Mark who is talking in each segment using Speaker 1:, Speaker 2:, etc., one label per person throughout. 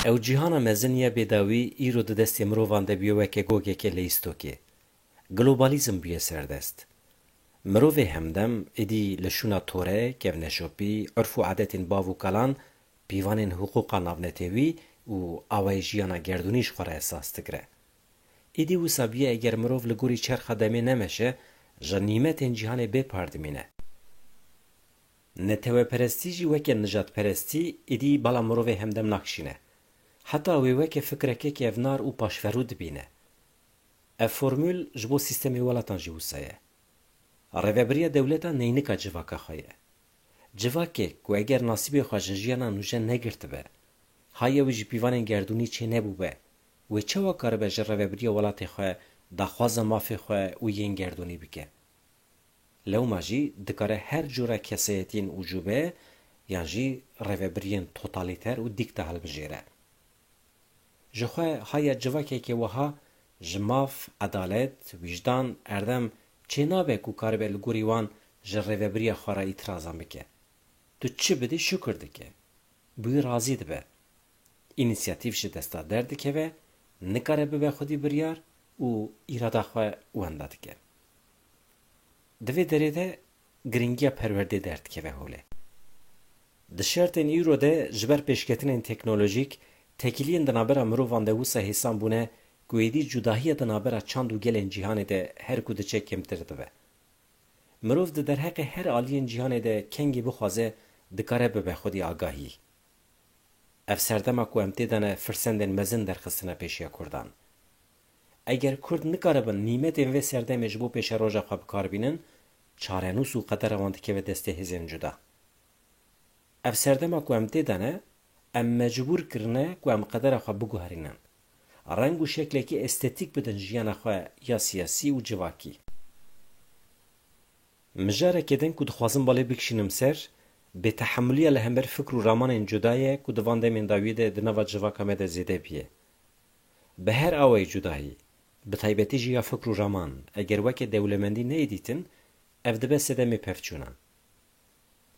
Speaker 1: Ew cîhana mezin ya bêdawî îro di destê mirovan de bûye weke gogekê li îstokê. Globalîzm bûye serdest. Mirovê hemdem êdî li şûna tore, kevneşopî, urf û adetên bav û kalan, pîvanên hiqûqa navnetewî û awayê jiyana gerdûnî ji xwe re esas digire. Êdî wisa bûye eger mirov li gorî çerxa demê nemeşe, ji nîmetên cîhanê bê par dimîne. Neteweperestî jî weke nijadperestî êdî bala mirovê hemdem nakişîne. Heta wê weke fikreke kevnar û paşverû dibîne. Ev formûl ji bo sîstemê welatan jî wisa ye. Rêvebiriya dewleta neynika civaka xwe ye. Civakê ku eger nasîbê xwe ji jiyana nûje negirtibe, haya wî ji pîvanên gerdûnî çê nebûbe, wê çawa karibe ji reveberiya welatê xwe daxwaza mafê xwe û yên gerdûnî bike. Lewma jî dikare her cûra keseyetiyên ucube yan jî revebiriyên totalîter û dîkta hilbijêre. Ji xwe haya civakekê wiha ji maf, edalet, wîjdan, erdem çê nabe ku karibe li gorî wan ji revebiriya xwe re îtîrazan bike. Tu çi bidî şukir dike. bi wî razî dibe. Înîsiyatîf ji desta derdikeve, nikare bibe xwedî biryar û îrada xwe wenda dike. Di vê derê de girîngiya perwerdê derdikeve holê. Di şertên îro de ji ber pêşketinên teknolojîk, tekiliyên di navbera mirovan de wisa hêsan bûne ku êdî cudahiya di navbera çand û gelên cîhanê de her ku diçe kêmtir dibe. Mirov di derheqê her aliyên cîhanê de kengî bixwaze dikare bibe xwedî agahî. Ev serdema ku em tê de ne firsendên mezin derxistine pêşiya kurdan. Eger kurd nikaribin nîmetên vê serdemê ji bo pêşeroja xwe bikar bînin, çarenûs û qedera wan dikeve destê hêzên cuda. Ev serdema ku em tê de ne Em mecbûr kirine ku em qedera xwe biguherînin, reng û şeklekî estetîk bidin jiyana xwe ya siyasî û civakî. Mijarekê din ku dixwazim balê bikişînim ser, bêtehemûliya li hember fikr û ramanên cuda ye ku di van demên dawiyê de di nava civaka me de zêde bûye. Bi her awayî cudayî, bi taybetî jî ya fikr û raman, eger weke dewlemendî neyê dîtin, ev dibe sedemê pevçûnan.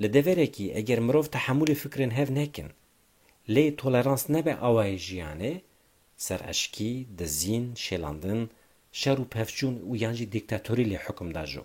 Speaker 1: Li deverekî eger mirov tehemûlê fikrên hev nekin, lê tolerans nebe awayê jiyanê, sereşkî, dizîn, şêlandin, şer û pevçûn û yan jî dîktatorî lê hukm da jo.